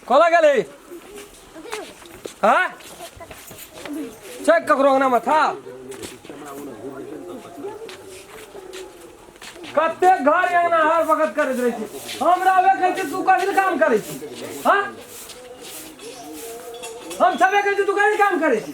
कला गले हाँ चेक ककरो अंगना में था कते घर अंगना हर वक्त करैत रहै छी हमरा वे कहै छी तू कहिल काम करै छी हाँ हम सबे कहै छी तू कहिल काम करै छी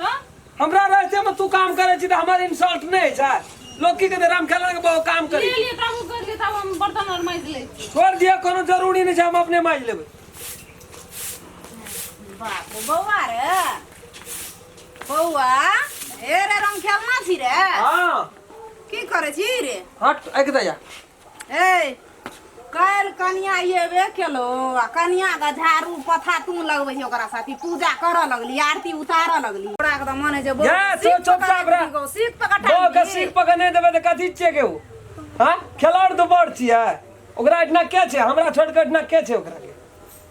हाँ? हमरा रहते में तू काम करे छी त हमर इंसल्ट नहीं है छै लोग की कहते राम खेला के बहुत काम करी ले लिए तब उ कर लिए तब हम बर्तन और माइज ले छी। छोड़ दिया कोनो जरूरी नहीं छै हम अपने माज लेबै बाप रे, बौआ रे बौआ ए रे रंग खेलना छी रे हां की करे छी रे हट एक दया हे काल्हि कनिया अयबे केलो आ कनिया के झाड़ू पथा तू लगबै छै ओकरा साथी पूजा करऽ लगली आरती उतारऽ लगली ओकरा के तऽ मन जे बौ जा, सीख सोचो पकड़ साहब रे। गौ, सीख पकड़ बौ के ठाकुर। सीख पकड़ नहि देबै तऽ कथी छियै के ओ हँ खेलाड़ तऽ बड़ छियै ओकरा एहिठिना के छै हमरा छोड़ कऽ एहिठिना के छै ओकरा के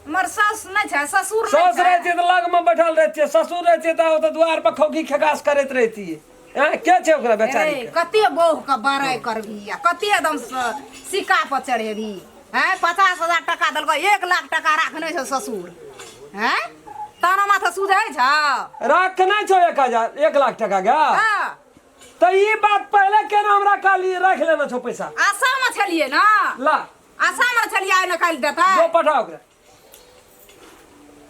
हमर सास नहि छै ससुर सास नहि छै रहती तऽ लगमे बैठल रहतियै ससुर रहतियै तऽ ओतऽ दुआर पर खौकी खेकास करैत रहतियै आँय, के छै ओकरा बेचारी अरे, कते बौह के बड़ाई करबी आ कते एकदम स- सिक्का पर चढ़ेबी हैं पचास हजार टका देलको एक लाख टका राखने छौ ससुर हैं ताना माथा सुझै छौ रखने छौ एक हजार एक लाख टका गा हाँ, तो ये बात पहले केना हमरा काली रख लेना छौ पैसा आशा में छलिए ना ला आशा में छलिए आइ न काल्हि देतै जो पठा ओकरा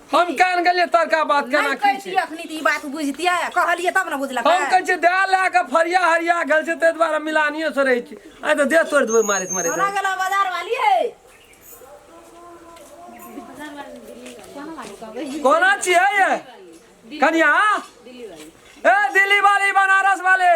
हम कान गेलियै तड़का बात केना की छै अखनी ई बात बुझतियै कहलियै तब ने बुझलक हम कहै छै दए लए कऽ फरिया हरिया गेल छै ताहि दुआरे मिलानियो से रहै छी आइ तऽ देह तोड़ि देबै मारैत मारैत हमरा गेला बाजार वाली है कोना छियै कनिया ए दिल्ली वाली बनारस वाली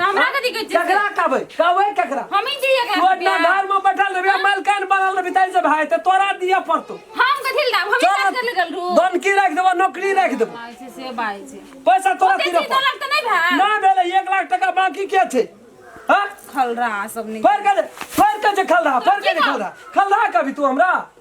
तो हमरा कथी कहै छै ककरा कहबै कहबै ककरा हम ही चाहिए तू अपना एकरा घर में बैठल रहबे मलकान बनल रहबे तै से भाई ते तोरा दिया पड़तो हम कथी ले दाब हम ही काज कर लगल रू धन की राख देबो नौकरी राख देबो भाई छै से भाई छै पैसा तोरा ओते तीन तीन लाख तो नहीं भाई ना भेले एक लाख टका बाकी के छै हाँ खल रहा सब नहीं पर के दे, पर के जे खल रहा पर के जे खल रहा खल रहा कभी तू हमरा